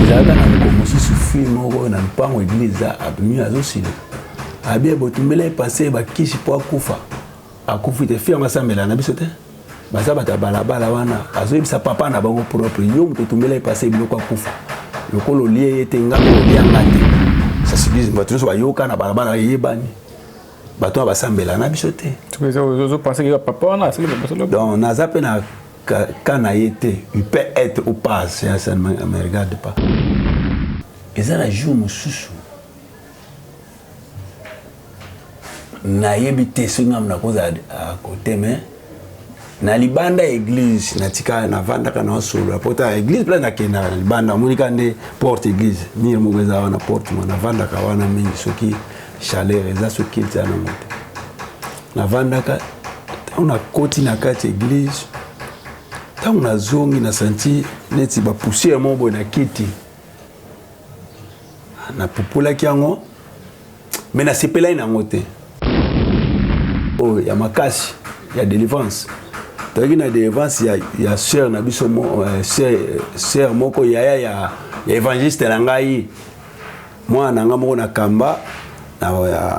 ezalaka na moko mosusu fille moko na lupango eglise eza abimi azosila abi abotumbela ye pase bakisi mpo akufa akufi te fille yango asambela na biso te baza bato ya balabala wana azoyebisa papa na bango propre yo moto otumbela ye pase biloko akufa lokola olie ye te ngai olia nga te sasibizi bato nyonso bayoka na balabala eyebani bato oyo basambela na biso te donc naza mpe na cas na ye te il peut être ou pas ça ne me regarde pas eza na jour mosusu nayebi te soki ngambo nakozala kote mais na libanda ya église natika navandaka na osolola po ta église mpe nakendaka na libanda omonika nde porte église mire moko eza wana porte mo navandaka wana mingi soki chaleur eza soki eza nango te navandaka ntango nakoti na kati eglise ntango nazongi na santi neti bapusiere moko boye na kiti napupulaki yango me nasepelai na yango te oyo ya makasi ya delivrance toyaki na delivrance ya, ya sœur na biso mo, uh, sœur, sœur moko yaya ya, ya évangéliste na ngai mwana na nga moko na kamba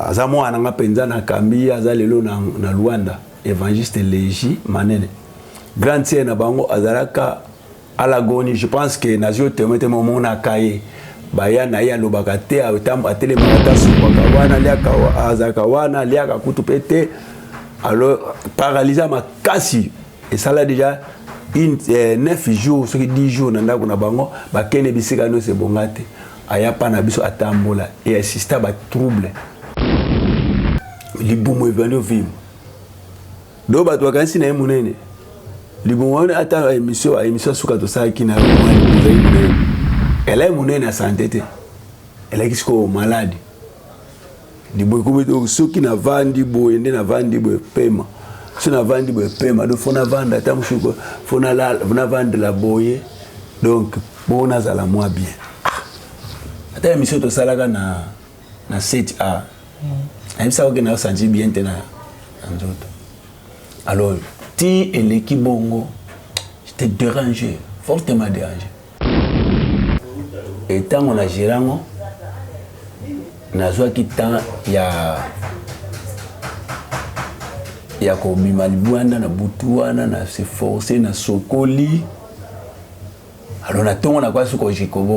aza mwana na nga mpenza na kambi ye aza lelo na, na luanda évangiste legi manene grande sœur na bango azalaka alagoni je pense que nazwi otemete momonaka ye baya na ye alobaka te atelemaka ata asopaka wana aliaka azalaka wana aliaka kutu mpe te alors paralyse makasi esala déjà une, eh, 9 jours soki 10 jours na ndako na bango bakende bisika nyonso ebonga te aya pa na biso atambola e assista ba trouble libumu ebandi ovimba do bato bakanisi na ye monene libumu wana ata emission ba emission suka tosalaki na ezali monene elai monene ya sante te elaki sikoyo malade liboye kobe donc soki navandi boye nde navandi boye pema so navandi boye pema donc fo navanda ata mosuku fo navandela boye donc mpo nazala mwa bien ah, ata ya misio tosalaka na, na set a ayebisaka oke naosanti bien te na nzoto alors ti eleki bongo te déranger fortement déranger Et tango na gerango nazwaki temps ya ya kobima libwanda na butu wana na se force na sokoli alors na ntongo na kwasi kojikobo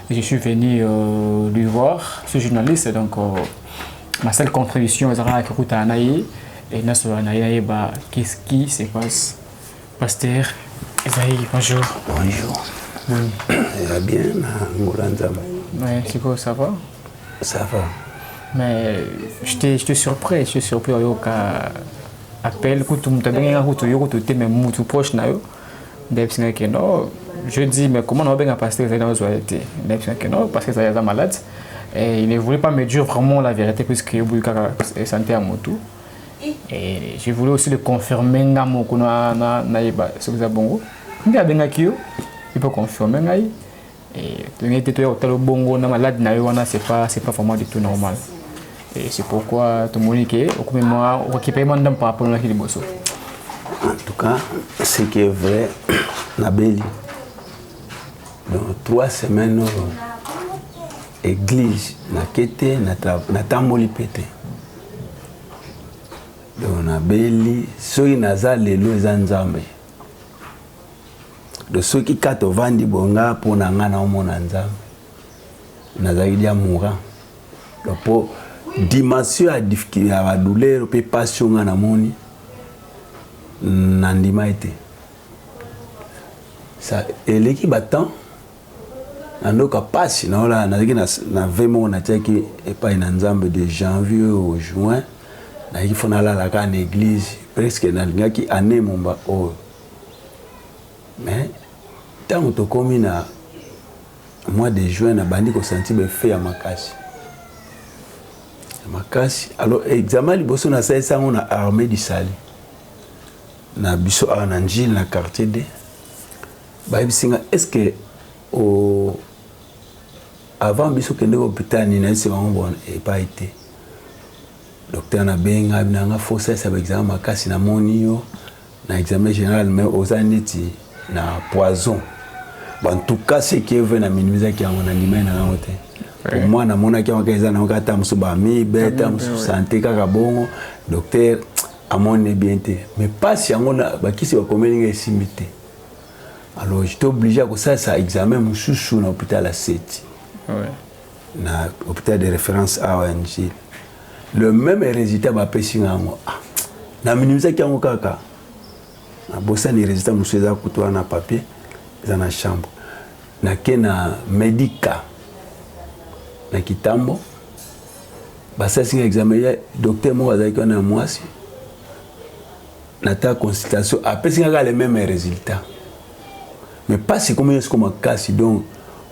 Je suis venu euh, lui voir, ce journaliste, donc euh, ma seule contribution, c'est que je suis et na solo na ye ba qu'est-ce qui se passe pasteur Esaïe bonjour bonjour oui ça bien na ngora nzambe ouais c'est quoi ça va ça va mais je te je te surpris je te surpris au yoka appel kutu mutu abengaka kutu yo kutu te mais mutu proche na yo ndayebisi ngai ke no je dis mais comment naobenga pasteur ezali nazwa ye te ndayebisi ngai ke no pasteur ezali aza malade et il ne voulait pas me dire vraiment la vérité puisque oboyi kaka santé ya motu et je voulais aussi le confirmer nga moko nayeba soki eza bongo nde abengaki yo ipo confirme ngai Et tolingaki te toya kotala bongo na malade na yo wana c'est pas c'est pas vraiment du tout normal et c'est pourquoi tomoni ke okomi mwa okokipe mwa ndambo par rapport naki liboso en tout cas ce qui est vrai nabeli dans trois semaines oyo euh, église nake te natamboli mpe te donc nabeli soki naza lelo eza nzambe do soki kati ovandi boye nga mpo na nga naomona nzambe nazali dia moura mpo dimension ya badouleur mpe mpasi oyo nga namoni nandima ete eleki batemp na ndoka mpasi naolala nazalaki na ve moko natiaki epai na nzambe de janvier au juin nayaki fo nalalaka na église presque nalingaki année momba oyo oh. mais tango tokomi na mois de juin nabandi kosanti baefe ya makasi ya makasi alors examen liboso nasalisi yango na armée du salut na biso awa na njile na quartier d bayebisi nga est ce que o avant biso kende hôpital nini nayebisi bango bon epai te docteur nabenga nanga fosalisa baexamen makasi namoni yo na examen general mais oza neti na poison en tout cas ce qui est vrai na minimisaki yango na ndimai na yango te pour moi namonaki yango kaka eza na yango kaka ta mosusu bamibe ta mosusu sante kaka bongo docteur amoni bien te mais mpasi yango bakisi bakomeli ngai esimbi te alors j'étais obligé ya kosalisa examen mosusu na hôpital ya seti ouais. na hôpital de référence awa ya Njili le même résultat bapesi nga yango ah, na minimisaki yango kaka nabosani résultat mosusu eza kutu wana papier eza na chambre nake na medica na kitambo basalisi nga examen ya docteur moko azalaki wana ya mwasi nata consultation apesi nga kaka le même résultat mais pasi ekomi na siko makasi donc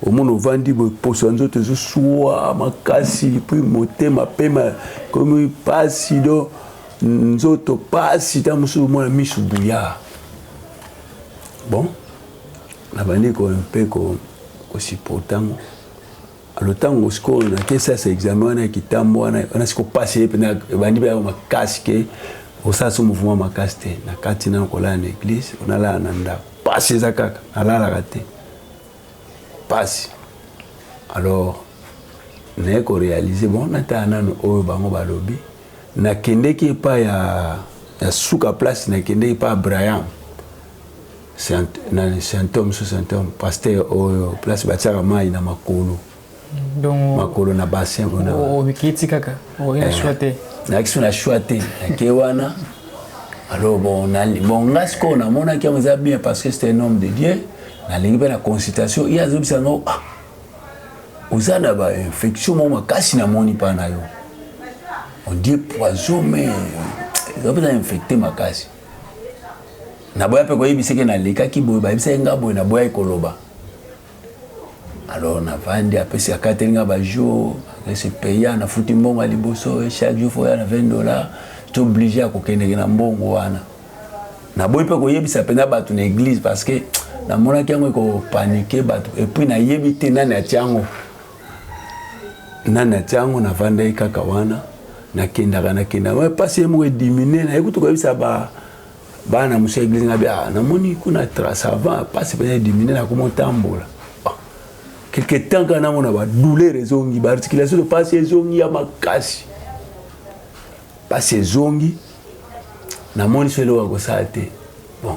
omona ovandi boye poso ya nzoto ezosua makasi puis motema pema ekomi pasi donc nzoto pasi ntango mosusu omona misu buya bon nabandi ko mpe kosiporta yango alo ntango sikoyo nake sasa examen wana ya kitambo wana wana siko mpasi ye mpena ebandi mpe yango makasi ke osala so mouvement makasi te na kati nano kolala na eglise onalala na ndako mpasi eza kaka nalalaka te mpasi alors naye korealize bon natala nano oyo bango balobi nakendeki epai ya, ya suka place nakendeki epai ya braham symptome sous symptome pasteur oyo place batiaka mai na makolo donc makolo na bassin kuna obikiti kaka oye na choix te nayaki so na choix te nake wana alors bon bon nga sikoyo namonaki yango eza bien parce que c'est un homme de dieu nalingi mpe na consultation ye azobisa ngo ah oza na bainfection moko makasi namoni mpa na yo ondie poison mais eza mpenza infecte makasi naboya mpe koyebisa eke nalekaki boye bayebisaki nga boye naboyaki koloba alors navandi apesi akateli nga bajour ese paya nafuti mbongo ya liboso e chaque jour foya na 20 dollar to oblige ya kokendeke na mbongo wana naboyi mpe koyebisa mpenza bato na église parce que namonaki yango ekopanike bato epuis nayebi te nani atiango nani atia yango navandaki kaka wana nakendaka nakendaka mpasi ye moko edimine naye kutu koyebisa ba bana mosu ya eglise ngabi ah, namoni kuna trace avant mpasi mpenza edimine nakoma otambola ah, quelque temps kaka namona badouleur ezongi baarticulation to mpasi ezongi ya makasi mpasi ezongi namoni so eloko ya kosala te bon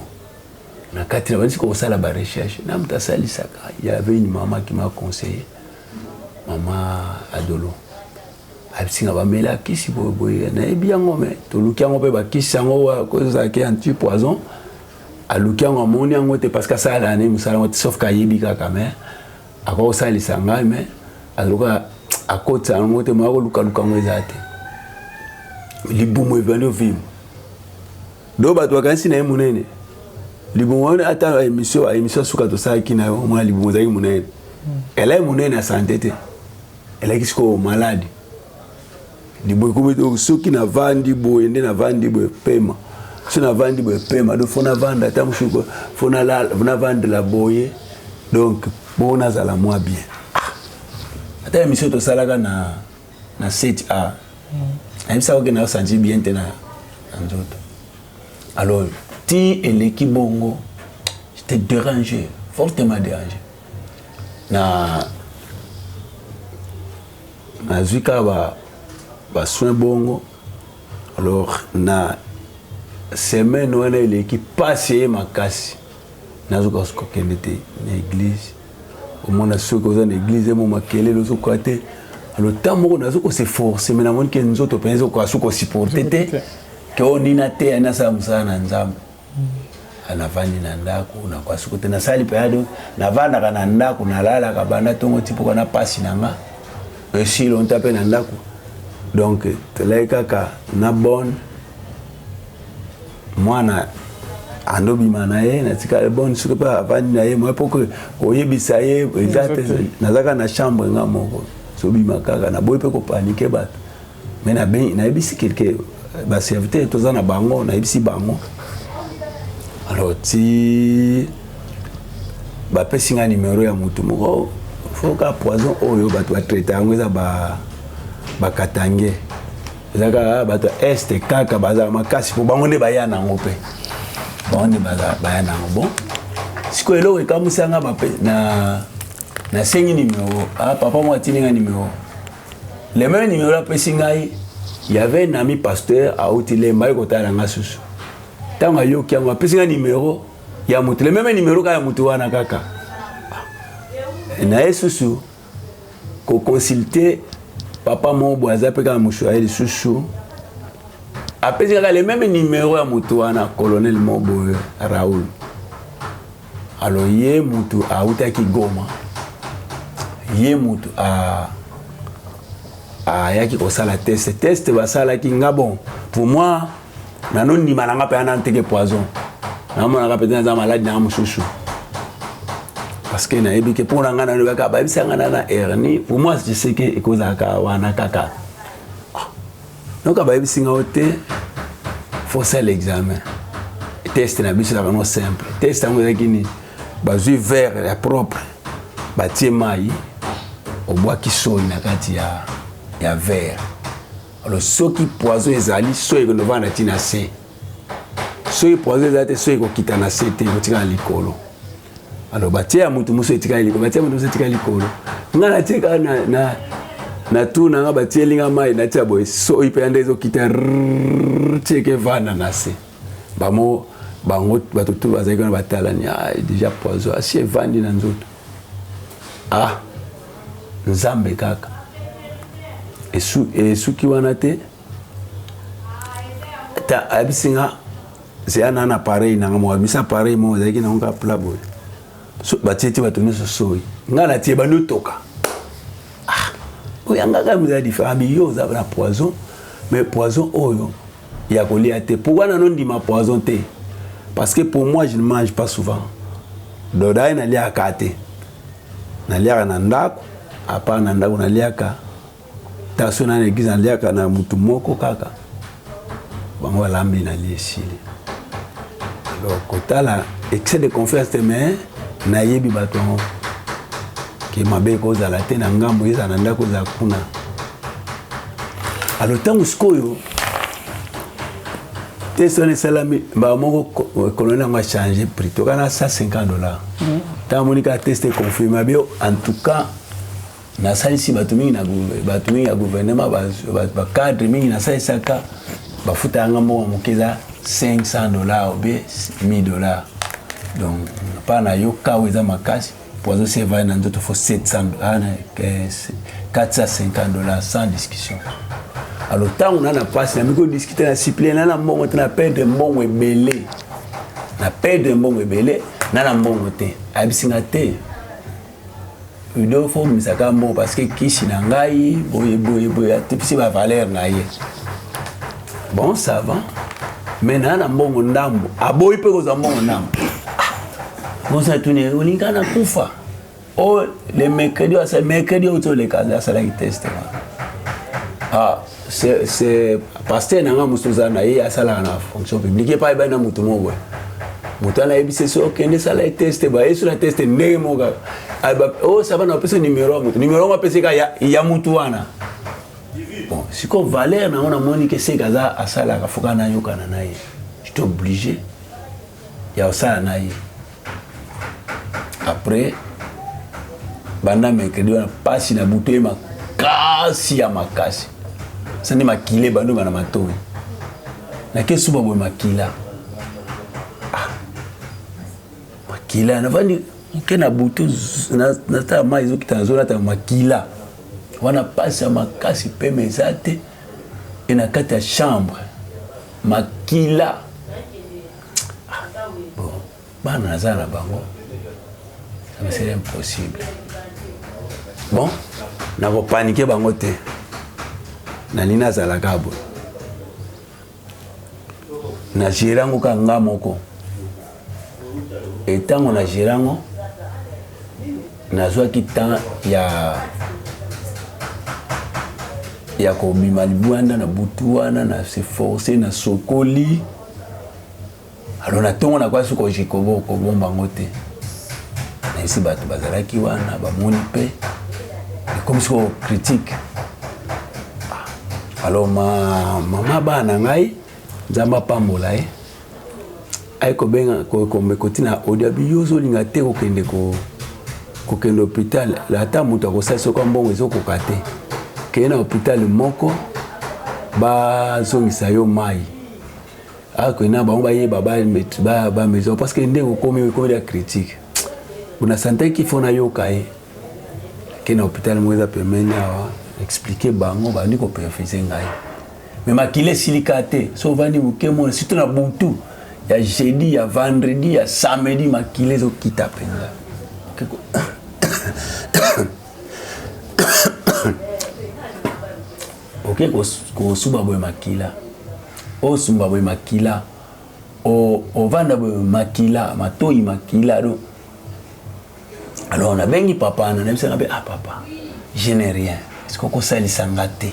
na kati na bandisi kosala ba recherche na moto asalisaka y avait une maman qui m'a conseillé mama adolo abisinga bamela kisi boyeboye nayebi yango me toluki yango mpe bakisi yango kozalaki anti poison aluki yango amoni yango te parce que asalaka ne mosala yango te sauf ke ayebi kaka me akoki kosalisa ngai me azoka akotisa yango te moya kolukaluka yango eza te libumu evandi ovimo donc bato bakanisi na ye monene libumu wana ata émission émission ya suka tosalaki na yo omona libumu ezalaki monene hmm. elai monene ya sante te elaki sikoyo maladi libumu ekomi soki navandi boye nde navandi boye pema so navandi boye pema donc fo navanda ata mosuku fo navandela boye donc mpo nazala mwa bien ah, ata émission tosalaka na na 7 a ayebisa oke na santi bien te na nzoto alors ti eleki bongo te déranger fortement déranger na nazwi kaka ba basoin bongo alors na semaine wana eleki mpasi eye makasi nazoka kokende te na eglise omona soki oza na eglize mo makelele ozokoka te alo ntan moko nazo kose force me namoni ke nzoto mpenza ezokoka su kosupporte te ke oyo nini ateya nasala mosala na nzambe ah, navandi na ndako nakoka suko te nasali mpenza do navandaka na ndako nalalaka banda ntongo ti mpoka na mpasi na nga esi lonta mpe na ndako donc tolai kaka na bone mwana ando bima na ye natika eboni soki mpe avandi na ye moye mpo koyebisa ye eza te nazalaka na chambre nga moko sobima kaka naboyi mpe kopanike bato me nayebisi kelke baserviteur toza na bango nayebisi bango alors ti bapesi nga nimero ya motu moko oh, foka poison oyo bato batraite yango eza bakatange ba ezalaka bato ya este kaka bazala makasi mpo bango nde baya nango mpe bango nde baya nango bon sikoyo eloko ekamwisanga na nasengi nimero ah, papa moko atindi ngai nimero le meme nimero apesi ngai yave nami pasteur auti lemba ye kotala ngai susu ntango ayoki yango apesi ngai nimero ya moto le meme nimero kaka ya moto wana kaka ah, na ye susu ko consulter papa moko boye aza mpe kaka mosu aye lisusu apesi kaka le meme numero ya motu wana colonel moko boye raoul alors ye motu autaki goma ye motu ayaki kosala test test basalaki nga bon pour moi nano ndima na nga mpe ana nteke poison namonaka mpenza naza maladi na nga mosusu parce que nayebi ke mpo na ngai nalobi kaka bayebisa ngai na na hernie pour moi je sais ke ekozalaka wana kaka noka bayebisi ngai te faut sala examen test na biso ezalaka no simple test yango ezalaki nini bazwi verre ya propre batie mai obwaki soi na kati ya, ya verre alors soki poison ezali soyi ekolova na ntina se soki poison ezali te soki ekokita na se te ekotika na likolo alors batie ya motu mosusu etikali likolo batie ya motu mosusu etikali likolo ngai natie kaka na, na, na tour na ngai batieli ngai mai natia boye soyi mpenza nde ezokita tieke vanda na se Bamo bango bato tout bazali kuna batalani ah déjà poison asi evandi na nzoto ah nzambe kaka esu esuki wana te ta ayebisi nga zeya na na pareil nanga moko abimisa appareil moko ezalaki nango kaka pla boye so, batie ti bato nyonso soi ngai natie bandi otoka ah, oyangaka mizala différent biyo oza na poison mais poison oyo ya kolia te pourquoi nano ndima poison te parce que pour moi je ne mange pas souvent doda ye naliaka te naliaka na ndako apart na ndako naliaka taso na l'église naliaka na mutu moko kaka bango balambi nalie esili alors kotala excès de confiance te mais nayebi bato yango ke mabe ekozala te na ngambo ezala na ndako ezala kuna alo ntango sikoyo test wana esalami mbala moko koloni yango achange prix toka na 150 dollar ntango amoni kaka test econfirme abi en tout cas nasalisi bato mingi na bato mingi ya gouvernement bacadre mingi nasalisaka bafuta yanga mbongo moke eza 500 dollar obe 1000 dollar donc mpa na yo kawa eza makasi Poison c'est vrai na ndoto faut 700 450 dollars sans discussion. Alors ntango na na pasi na miko discuter na siple na na mbongo te na perdre mbongo ebele na perdre mbongo ebele na na mbongo te ayebisi nga te udofo misaka mbongo parce que kisi na ngai boye boye boye atipisi bavaleur na ye bon ça va mais naa na mbongo ndambo aboyi mpe kozwa mbongo ndambo mosi atuni olinga na kufa o oh, le mercredi asa mercredi outi oleka asalaki teste wana ah c'est pasteur na nga mosusu oza na ye asalaka na fonction publique epai bai na motu moko moto wana ayebisi so okende sala ye teste bayesu na teste ndenge moko kaka o oh, saba na opesa numero ya moto numero yango apeseka ya motu wana Bon, siko valeur na ona moni ke seka za asala ka foka na yoka na naye. Je suis obligé ya osala na ye. Après banda mercredi wana pasi na buto ye makasi ya makasi. Sani makile bando bana matoyi. Na ke suba boye makila. makila navandi moke na butu natala mai ezokita na zona tala makila wana mpasi ya makasi mpema eza te e na kati ya chambre makila ah, bon bana naza na bango c'est impossible bon nakopanike bango te nani nazalaka boye na gere yango kaka nga moko etango na gere yango nazwaki temps ya ya kobima libwanda na butu wana na se force na sokoli alors na ntongo na kwasi kojikobo kobomba yango te naisi bato bazalaki wana bamoni mpe ekomisi ko critique ah, alors ma, mama bana na ngai nzambe apambola ye aye kobenga kotina audio abi yo ozolinga te kokende ko kokende hôpital ata moto akosali soki mbongo ezokoka te kende na hôpital moko bazongisa yo mai ake na bango bayeba ba maison parce que ndenge okomi okomi na critique bona santaki fo nayoka ye ake na hôpital moko eza pembeni awa explike bango bandi koperfise ngai me makila esilika te so ovandi moke mona surtout na butu ya jeudi ya vendredi ya samedi makila ezokita mpenza Oke kosuba boye makila osumba boye makila ovanda boye makila matoyi makila do alors nabengi papa na nayebisaka mpe ah papa je ne rien eske okosalisa nga te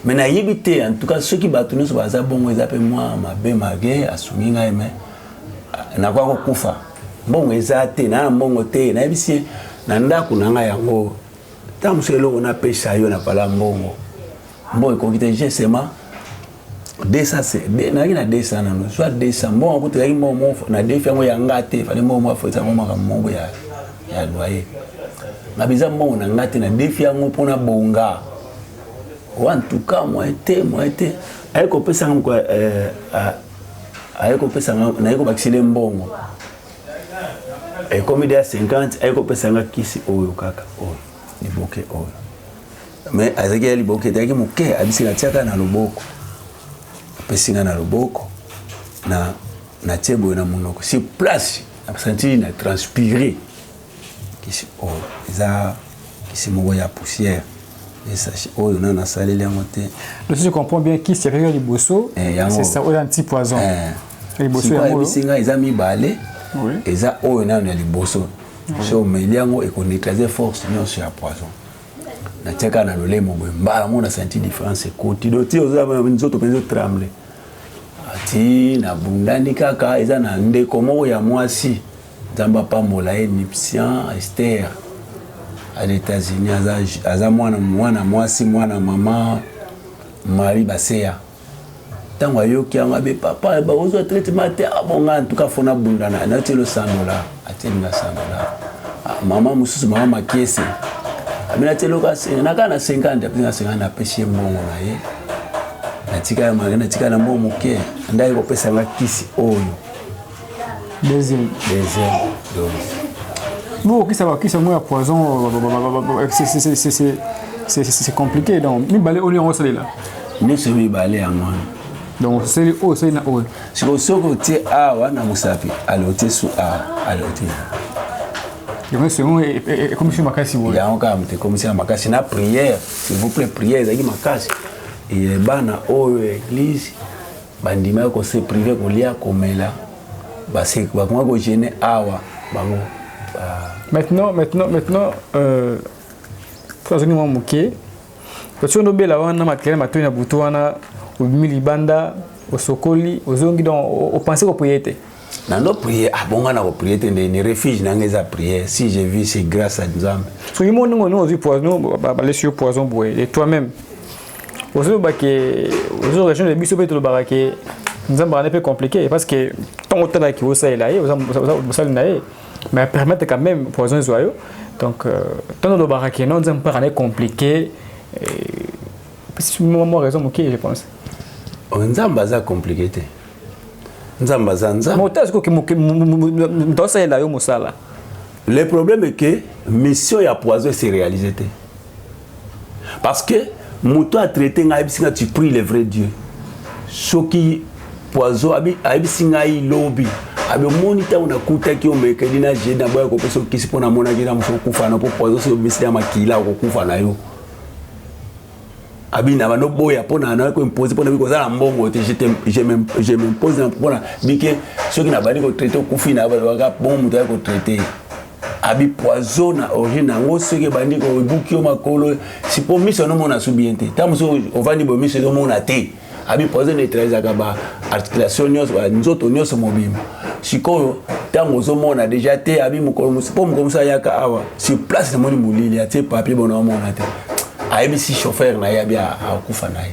me nayebi te en tout cas soki bato nyonso baza bongo eza mpe mwa mabe mage asungi ngai me ah, nakoya kokufa mbongo eza te naa mbongo te nayebisi ye na ndako na ngai yango ntango mosusu eloko napesa yo na pala mbongo mbongo ekoki te gesema 200 nayaki na 200 nano zwa 200 mbongo yango tozalaki mbongo moko na defi yango ya nga te fale mbongo moko afoyisa yango makambo moko ya ya loyer nga biza mbongo na nga te na defi yango mpo na bonga wa ntuka moyen te moyen te aye kopesa nga moko eh, aye kopesa nga naye kobakisile mbongo ekomi deya 50 aye kopesa nga kisi oyo kaka oyo liboke oyo me azalaki ya liboke ezalaki moke abisi natiaka na loboko apesi nga na loboko na natie boye na monoko sur place nasantili na transpire Kisi oyo eza kisi moko ya poussière. Esache oyo nana asaleli yango te. Donc si je comprends bien kisi ya kaka liboso eh, c'est ça oyo anti poison. Eh. Liboso yango ayebisi ngai eza mibale. Oui. Eza oyo nano ya liboso. Si omeli yango ekoneutralize force nyonso ya poison. natiaka na lolemo boye mbala yango na senti différence ekoti do ti nzoto mpenza otremble ati nabundani kaka eza na ndeko moko ya mwasi Nzambe apambola ye Nipsian Esther à l'Etats-Unis aza aza mwana mwana mwasi mwana mama Marie Baseya ntango ayoki yango abe papa bakozwa traitement te abonga ah, ntuka fona bunda na nati losandola atieli nga sandola ah, mama mosusu mama makiese abina ti eloka naka na 50 apesi na 50 napesi ye mbongo na ye natika ya mari natika na mbongo moke ndaki kopesa nga kisi oyo deuxième deuxième dose bokokisa bakisa yango ya poison c'est compliqué donc mibale oyo yango osalela nyonso mibale yango wana donc oseli oyo oseli na oyo sikoyo soki otie awa na mosapi ale otie su awa ale otie yango sengo ekomisi makasi boye yango kaka moto ekomisi na makasi na prière s'il vous plaît prière ezalaki makasi bana oyo eglise Bandimaki ko se priver kolia, komela, bakomaki ko jeune awa bango ba... Maintenant, maintenant, maintenant, euh, tozali mwa moke otiyo nobela wana makelele matoi na butu wana obimi libanda osokoli ozongi donc opense koprie te nando prier abonga ah, na koprie te nde ni refuge nanga eza prière si je vis c'est grâce à nzambe soki mo ndenge olingi ozwi poison balesi yo poison boye et toi-même ozoloba ke ozo région de biso mpe tolobaka ke nzambe wana mpe compliqué parce que ntango otalaki osalela ye osali na ye mais permettre quand même poison ezwa yo donc ntango olobaka ke non nzambe mpe akana compliqué mwa raison moke je pense nzambe aza compliqué te nzambe aza nzambemoto asalela yo mosala le problème est que mission ya poison ese réalise te parce que moto a traite ngai ayebisi ngai tu prie le vrai dieu soki poison ayebisi ngai lobi abi omoni ntango nakutaki omekeli na jedi na boya kopesa okisi mpo namonaki na mosu okufa na mpo poison soki obimisi na makila okokufa na yo abi na bando boya mpo na nayoki koimpose mpo nabi koza na mbongo te je m'impose mpona bike soki nabandi kotraite okufi na balobaka bongo moto ayaki kotraite abi poison na origine yango soki ebandi kobuki yo makolo sipo miso nomona su bien te ntango mosusu ovandi boye miso ezomona te abi poison neutralisaka ba articulation nyonso nzoto nyonso mobimba sikoyo ntango ozomona deja te abi mokolo mosusu mpo mokolo mosusu ayaka awa sur place namoni molili atie papier bona omona te ayebisi chauffeur na ye abi akufa na ye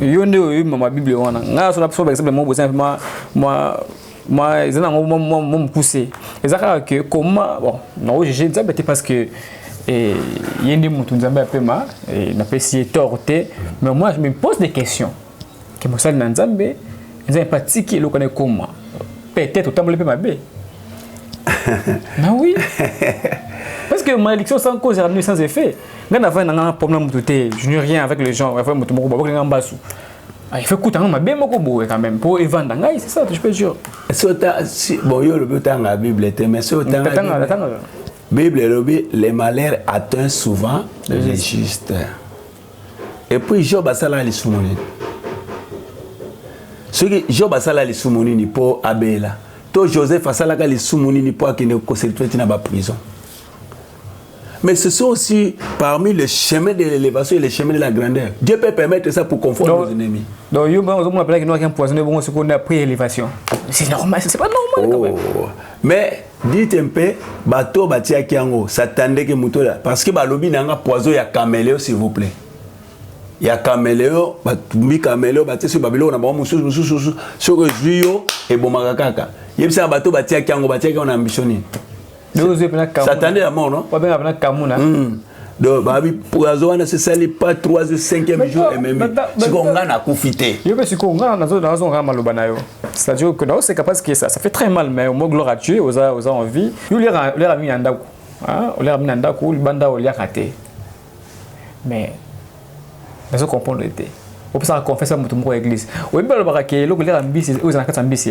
yo nde oyebi mama bible wana ngai nasola biso baexemple moko boza mwa mwa mwa eza nango mwa mwa mokuse eza kaka ke koma bon nao juge nzambe te parce que eh, ye nde motu nzambe apema eh, napesi ye tort te mais moi je me pose des questions ke mosali na nzambe nzambe mpe atiki eloko na ekoma peut-être otamboli mpe mabe bah oui parce que malédiction sans cause ramenée sans effet ngai navai na ngai problème moto te je n'ai rien avec les gens avai moto moko babokeli ngai mbasu ah, il faut kuta ngai mabe moko boye quand même mpo evanda ngai c'est ça je peux dire bon yo olobi otanga bible te mais soki otanga bible elobi le malheur atteint souvent le juste epuis job asala lisumu nini soki job asala lisumu nini mpo abela to joseph asalaka lisumu nini mpo akende koselitwe ntina baprison mais ce sont aussi parmi le chemin de l'élévation et le chemin de la grandeur. Dieu peut permettre ça pour confondre nos ennemis. Donc, yo, bon, on appelle qu'il y a un poison, bon, c'est qu'on a pris élévation. C'est normal, c'est pas normal oh. quand même. Oh. Mais, dite mpe bato oyo batiaki yango satandeke moto ya parce que balobi na yanga poison ya cameleo s'il vous plaît ya cameleo batumbi cameleo batie soki babiloko na bango mosusu mosusu soki ezwi yo ebomaka kaka yebisaka bato batiaki yango batiaki yango na ambition nini satande ya mort no donc babi poison wana sesali pas 3 jours 5e jour ememi sikoyo ngai nakufi te yo mpe sikoyo ngai nazongaka maloba na yo c'est-à-dire que naoseka parce que ça, ça fait très mal mais au moins gloire à dieu oza, oza en vie yo oliaka mingi na ndako oliaka mingi na ndako libanda oliaka te mais nazo comprendre te opesaka confesse ya moto moko ya église oyebi balobaka ke eloko eliaka mbisi oyo eza na kati ya mbisi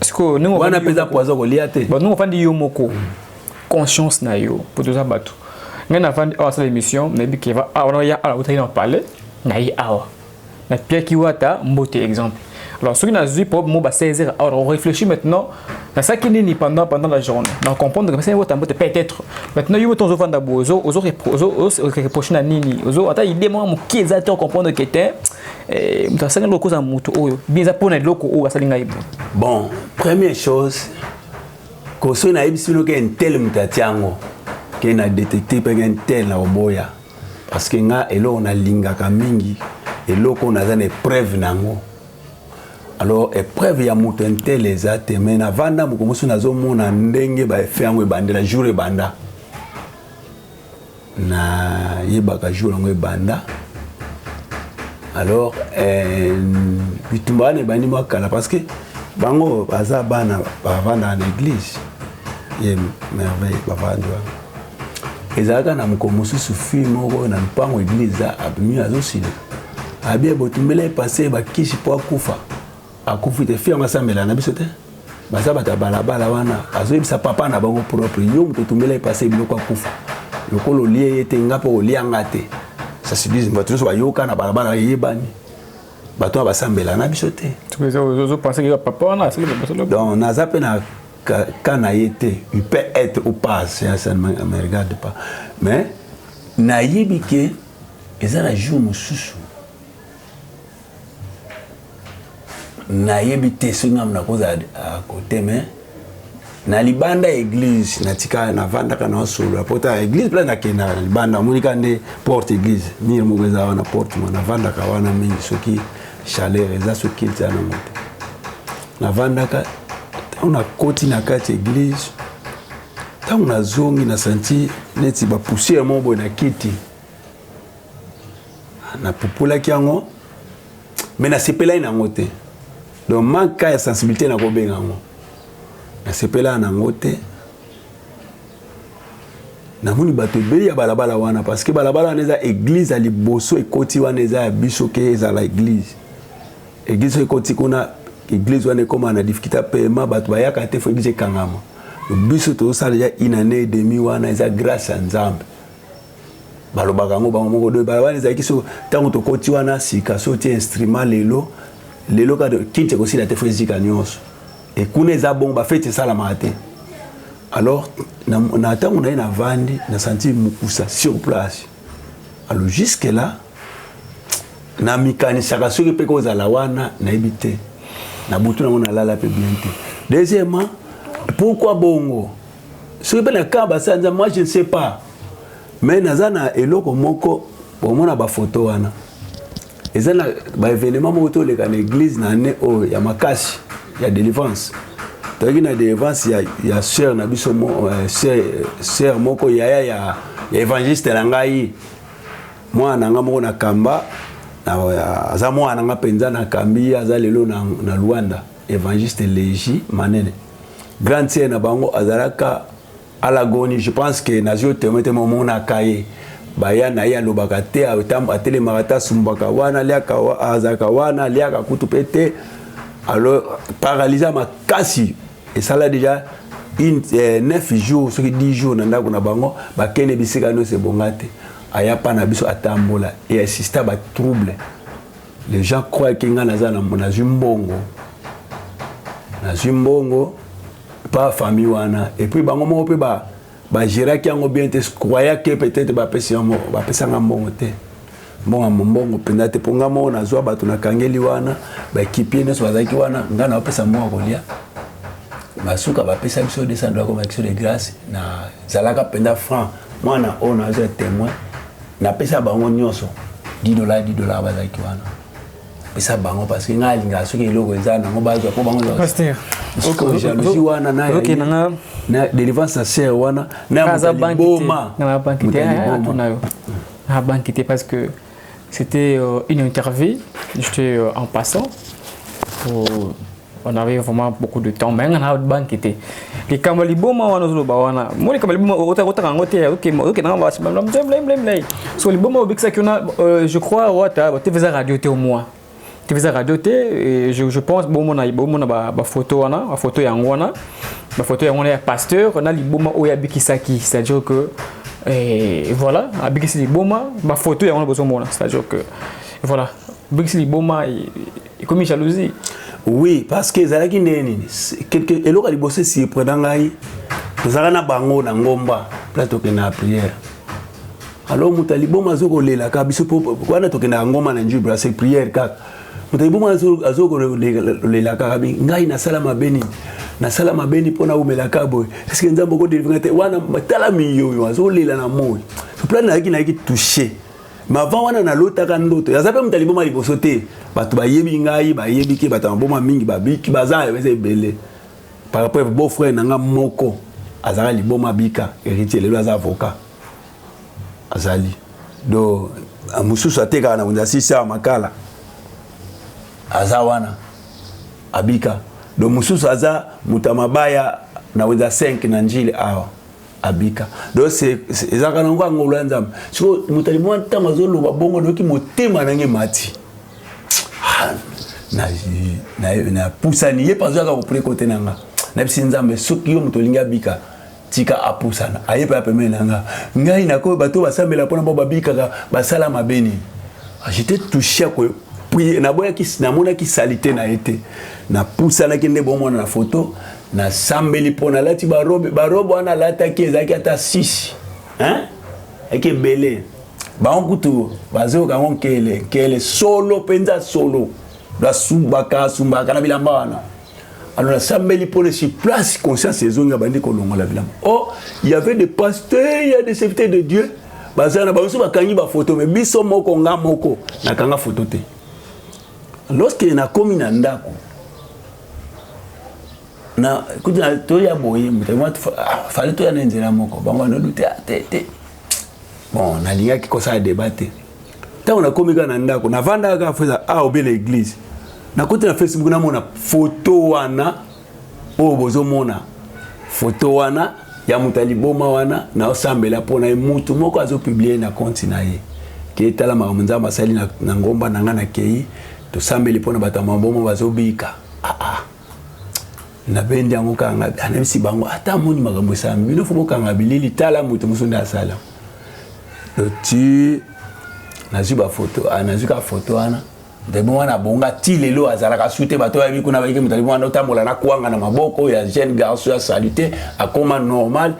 sikoyo ndenge wana mpe eza poison kolia te ndenge ofandi yo moko conscience na yo mpo toza bato ngai nafandi awa asala émission nayebi keva awa na ya awa otaki na palais na ye awa na piaki wata mbote exemple alors soki nazwi problème mo ba 16 heures alors on réfléchit maintenant nasalaki nini pendant pendant la journée na comprendre que basali wata mbote peut-être maintenant yo moto ozofanda bo ozo ozo reproche na nini ozo ata idée moko moke eza te comprendre que te Eh, moto asali ngai okozala moto oyo bien eza mpo na eloko oyo asali ngai bo bon première chose koso nayebisi bino ke intel moto atia yango ke na détecte mpeke intel na koboya parce que nga eloko nalingaka mingi eloko oyo naza na épreuve na yango alors épreuve ya moto intel eza te mai navanda moko mosusu nazomona ndenge baefe yango ebandela jour ebanda Na yebaka jour yango ebanda. Alors eh, bitumba wana ebandi mwa kala parce que bango baza bana bavandaka na eglise ye merveille bavandi wana ezalaka na mokolo mosusu fille moko na mpango eglise abimi azosila abia botumbela ye pase bakisi mpo akufa akufi te fille yango asambela na biso te baza bato ya balabala wana azoyebisa papa na bango propre yo moto otumbela epase biloko akufa lokola olie ye te nga mpe olia nga te sasibizi bato nyonso bayoka na balabala eyebani bato oyo basambela na biso te donc naza mpe na ka na ye te il peut être ou pas ça ne me regarde pas mais nayebi ke eza na jour mosusu nayebi te soki ngambo nakozala ah, kote me na libanda ya église natika navandaka na osolo ya pota ya église mpena nakendaka na libanda amonika nde porte église mire moko eza wana porte mo navandaka wana mingi soki chaleur eza soki eza na moto navandaka ntango nakoti na kati ya église ntango nazongi na santi neti bapoussière moko boye na kiti napupolaki yango me nasepelai na yango te donc manka ya sensibilité nakobenga yango nasepelaka na yango te namoni bato ebele ya balabala wana parce que balabala wana eza église ya liboso ekoti wana eza ya biso ke ezala église église soki ekoti kuna église wana ekoma na difficulté ya paiement bato bayaka te fo église ekangama biso tozosala ya une année et demi wana eza grâce ya nzambe balobaka yango bango moko do balabala ezalaki so ntango tokoti wana sika so tie instrument lelo lelo kaka kinti ekosila te fo ezika nyonso e kuna eza bongo bafeti esalamaka te alors na ntango na ye navandi nasanti mokusa sur place alors jusque là namikanisaka soki mpe kozala wana nayebi te na butu nango nalala mpe bien te deuxièmement pourquoi bongo soki mpe na camp basala nzambe moi je ne sais pas mais naza na eloko moko bomona bafoto wana eza na baevenema moko toleka na eglise na ane oyo ya makasi ya delivrance toyaki na delivrance ya, ya sœur na biso mo, uh, sœur, sœur moko yaya ya, ya évangéliste na ngai mwana na ngai moko na kamba aza mwana na ngai mpenza nakambi aza lelo na, na luanda Evangeliste Leji Manene. Grande sœur na bango azalaka alagoni je pense que nazwi yo témoin te momonaka ye baya na ye alobaka te atelemaka te asumbaka wana aliaka azalaka wana aliaka kutu mpe te alors paralysa makasi esala déjà une, eh, 9 jours soki 10 jours na ndako na bango bakende bisika nyonso ebonga te aya mpa na biso atambola e assista batrouble Les gens croient que nga naza na nazwi mbongo. Nazwi mbongo pas famille wana et puis bango moko pe ba ba géraki yango bien te croya que peut-être ba pesi yango ba pesa nga mbongo te. Mbongo mbongo penda te ponga moko nazwa bato na kangeli wana ba équipier nyonso bazalaki wana nga na pesa mbongo kolia. Basuka ba pesa biso 200 dollars comme action de grâce na zalaka penda franc mwana oyo nazwa témoin Napesa bango nyonso 10 dollars 10 dollars bazalaki wana pesa bango parce que ngai alingaka soki eloko eza nango bazwa mpo bango jalousie wana na délivrance ya ser wana nayaboma na banki te parce que c'était euh, une interview j'étais euh, en passant pour on avait vraiment beaucoup de temps mais nga na banque te likambo liboma wana ozoloba wana mo likambo liboma otaka yango te okenda nga basi blamblemblemblem so liboma obikisaki ona euh, je crois wata tv eza radio te omoi tv eza radio te je, je pense bomona bomona bafoto wana bafoto yango wana bafoto yango wana ya pasteur na liboma oyo abikisaki c'est à dire que eh, voilà abikisi liboma bafoto yango wana bozomona c'est à dire que voilà abikisi liboma ekomi jalousie oui parce que ezalaki ndenge nini eloko ya liboso esieprena ngai tozalaka na bango na ngomba place tokenda ya prière alors moto ya liboma azoki kolelaka biso wana tokendaka ngomba na njubra se prière kaka moto ya liboma azoki kolelakaka bi ngai nasala mabe nini nasala mabe nini mpo naumelaka boye eske nzambe okodelivre te wana tala miyoyo azolela na moi plan nayaki nayaki touche mais avant wana nalotaka ndoto yaza mpe moto aliboma liboso te bato bayebi ngai bayebi ke bato ya maboma mingi babiki baza eza ebele par rapport beau frère na ngai moko azalaka liboma bika héritier lelo aza avocat azali do mosusu atekaka na wenze asisi awa makala aza wana abika do mosusu aza moto ya mabaya na wenza 5 na njili awa abika donc ezalaka nango ya ngolu ya nzambe siko moto alimwa ntango azoloba bongo noki motema nange mati ah, napusani ye mpanzo yaka kopre kote na nga nayebisi nzambe soki yo moto olingi abika tika apusana aye mpe ya pembeni na nga ngai nakoyo bato basambela mpona bao babikaka basala mabe nini ah, jete touche akoyo naboyaki namonaki salite na ye te napusanaki nde bomona na foto nasambeli mpo nalati barobe barobe wana alataki ezalaki ata 6 eke ebele bango kutu bazoyoka yango nkele nkele solo mpenza solo basumbaka asumbaka na bilamba wana alo nasambeli mpo nesi place conscience ezongi abandi kolongola bilamba o oh, y avait des pasteurs ya des serviteurs de dieu bazala na bango so bakangi bafoto me biso moko nga moko nakanga foto te lorsque nakomi na ndako na kuti na toya boye moto ah, fali toya na nzela moko bango anolu te ah, te te bon nalingaki kosala deba te ntango nakomi kaka na ndako navandaka kaka feza a ah, obe na eglise nakuti na facebook namona foto wana oyo bozo mona photo wana ya moto ya liboma wana naosambela mpo na ye motu moko azo publie na konti na ye ke tala makambo nzambe asali na, na ngomba na ngai nakei tosambeli mpo na bato ya maboma bazobika aa ah, ah. nabendi yango kaka ngai anayebisi bango ata amoni makambo esalami bino fo bokanga bilili tala moto mosusu nde asala ti nazwi bafoto ah, nazwi kaka foto wana Ndebe wana abonga ti lelo azalaka sute bato oyo ayebi kuna bayike moto alibi wana otambola na kwanga na maboko ya jeune garçon ya salite akoma normal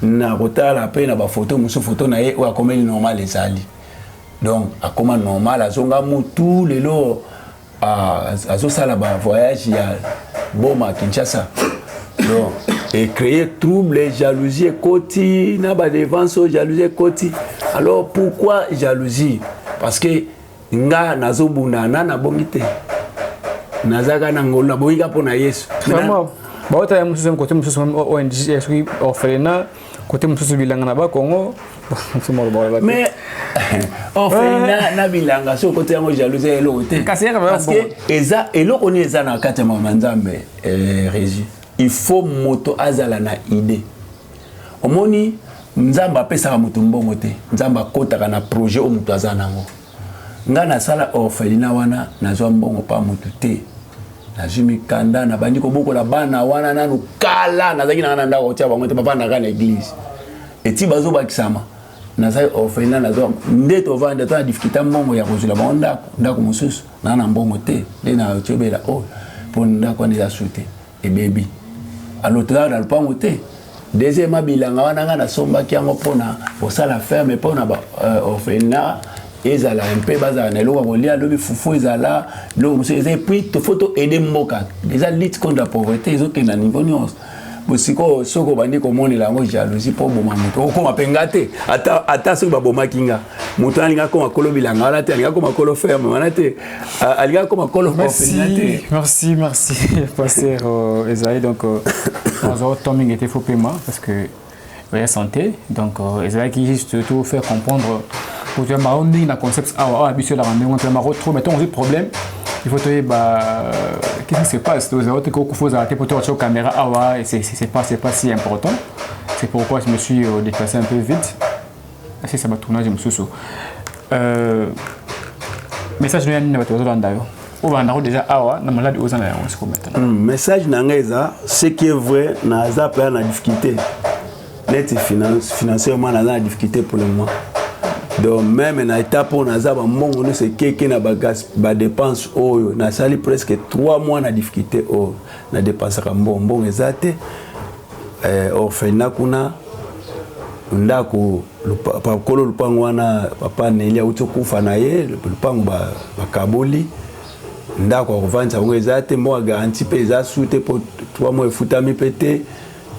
na kotala mpe na bafoto mosusu foto na ye oyo akomeli normal ezali donc akoma normal azonga mutu lelo azosala bavoyage ya boma kinshasa donc ecreye trouble jalousie ekoti na badevance oyo jalousie ekoti alors pourquoi jalousie parce que nga nazobunda na nabongi te nazalaka na ngolu nabongi ka mpo na yesu bauta ya mosusu kote mosusu ong soki orphelina kote mosusu bilanga na bakongo mais orphelina na bilanga soki okoti yango jalouse ya eloko te parceke eza eloko nini eza na kati ya mama nzambe eh, régi il faut moto azala na idée omoni nzambe apesaka moto mbongo te nzambe akotaka na projet oyo moto aza nango ngai nasala orphelina wana nazwa mbongo mpa moto te nazwi mikanda nabandi kobokola bana wana nanu kala nazalaki nanga na ndako kotia bango te bavandaka na eglise eti bazobakisama nazali orphelina nazwa nde tovanda to na difikulta mbongo ya kozwila bango ndako ndako mosusu naa na mbongo te nde na otyobela oyo oh, mpo ndako wana eza su te ebebi alotaka na lopango te deuxièmement bilanga wana ngai nasombaki yango mpona kosala ferme mpona ba euh, orphelina ezala mpe bazala na eloko ya kolia lobi fufu ezala biloko mosusu eza epuis fo to aide mboka eza lutte contre la pauvreté ezokende na niveau nyonso bosikoyo soki obandi komonela yango jalousie mpo oboma moto okoma mpe nga te ata soki babomaki nga moto alinga akoma kolo bilanga wana te alinga akoma kolo ferme wana te Euh, alingaki koma kolo merci merci merci pasteur euh, ezali donc naza euh, temps mingi te fo pema parce que oya santé donc ezalaki juste to faire comprendre kotoya bango ndenge na concept awa awa biso elaka ndenge mpe bango trop mais ntango ozwi problème il faut toyeba qu'est-ce qui se passe tozala te kokufa ozala te mpo toka tio caméra awa c'est pas c'est pas si important c'est pourquoi je me suis déplacé un peu vite asilisa ba tournage mosusu euh, message noya nini na bato bazolanda yo oyo bandako deja awa na maladi oza na yango siko maintenant hmm, message na ngai eza ce qui est vrai naza mpenza na difficulté neti financièrement naza na difficulté pour le moment donc meme na étape oyo naza bambongo nyonso ekeke na badepense oyo nasali presque 3 mois na difficulté oyo nadepensaka mbongo mbongo eza te eh, orphelinat kuna ndako kolo lupango wana papa neli auti okufa na ye lupango bakaboli ba ndako ya kovandisa yango eza te mbongo ya garanti mpe eza su te mpo twa mwa efutami mpe te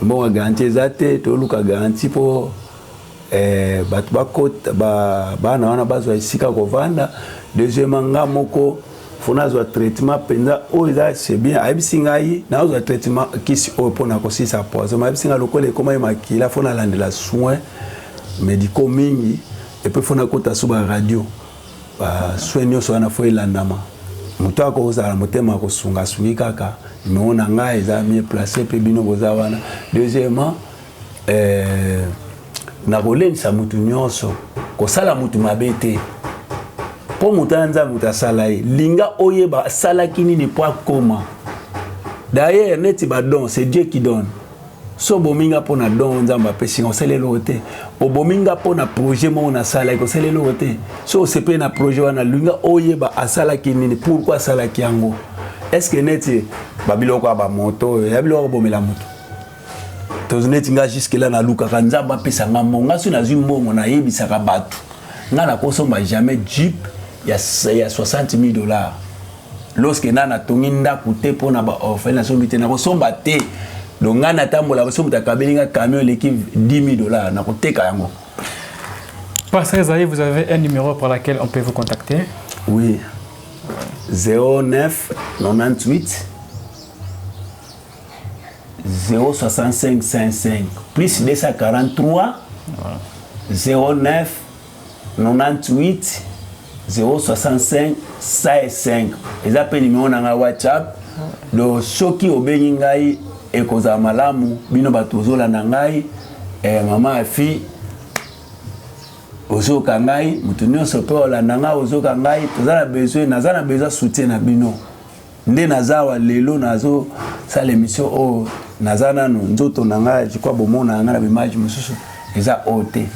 mbongo ya garanti eza te toluka garanti mpo eh, bato bakota ba, bana wana bazwa esika ya kovanda deuxièmement nga moko fo nazwa traitement mpenza oyo eza c'est bien ayebisi ngai nazwa traitement kisi oyo mpo na kosilisa poison mayebisi ngai lokola ekomaki makila fo nalandela soin médicaux mingi epuis fo nakota so baradio basoin nyonso wana fo elandama moto akozala motema kosunga asungi kaka numero na ngai eza mie place mpe bino boza wana deuxièmement eh, nakolendisa moto nyonso kosala moto mabe te mpo moto ya nzambe moto asala ye linga oyeba asalaki nini mpo akoma d'ailleurs neti badon c'est dieu qui donne so obomi nga mpo na don nzambe apesi nga osala eloko te obomi nga mpo na projet moko nasalaki osala eloko te so osepeli na projet wana linga oyeba asalaki nini pourkui asalaki yango estce neti babiloko ya bamoto oyo ya biloko kobomela moto tozoneti nga jusque là nalukaka nzambe apesa nga mbongo nga soki nazwi mbongo nayebisaka bato nga nakosomba jamais jeep ya, ya 60 000 dollars lorsque na natongi ndako te mpo na baorphelin nasombi te nakosomba te donc ngai natambolaka soki moto akabeli nga camion eleki 10 000 dollars nakoteka yango Pasteur Esaïe, vous avez un numéro par lequel on peut vous contacter Oui. 09 98 06555 plus 243 09 98 065 55 eza mpe nimero na ngai whatsapp do soki obengi ngai ekozala malamu bino bato ozolanda ngai eh, mama ya fille ozoka ngai moto nyonso mpe olanda ngai ozoka ngai toza na besoin naza na besoin soutien na bino nde naza awa lelo nazo sala emission oyo naza nano nzoto na ngai jikwa bomona yanga na bimage mosusu eza oyo te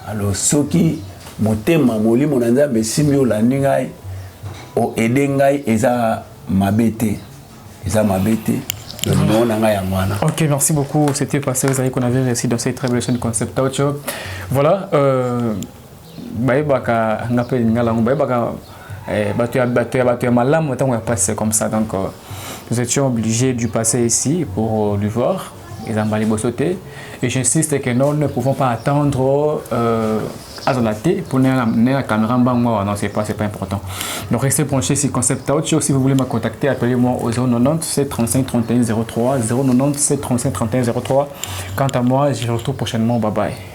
alors soki motema molimo na nzambe esimbi olandi ngai oede ngai eza mabe te eza mabe te numéro na ngai yango wana ok merci beaucoup c'était passé ozali konavire ici dans cette très belle chaîne concept audio voilà euh... bayebaka nga mpe lingala yango bayebaka eh, bato ya bato ya bato ya malamu ntango ya pasi c'est comme ça donc euh, nous étions obligés du passer ici pour euh, lui voir ezamba liboso te et j'insiste que non ne pouvons pas attendre euh, azala te mpo na la caméra mbango awa non c'est pas c'est pas important donc restez branché sur concept out si vous voulez me contacter appelez moi au 090 735 31 03 090 735 31 03 quant à moi je vous retrouve prochainement bye bye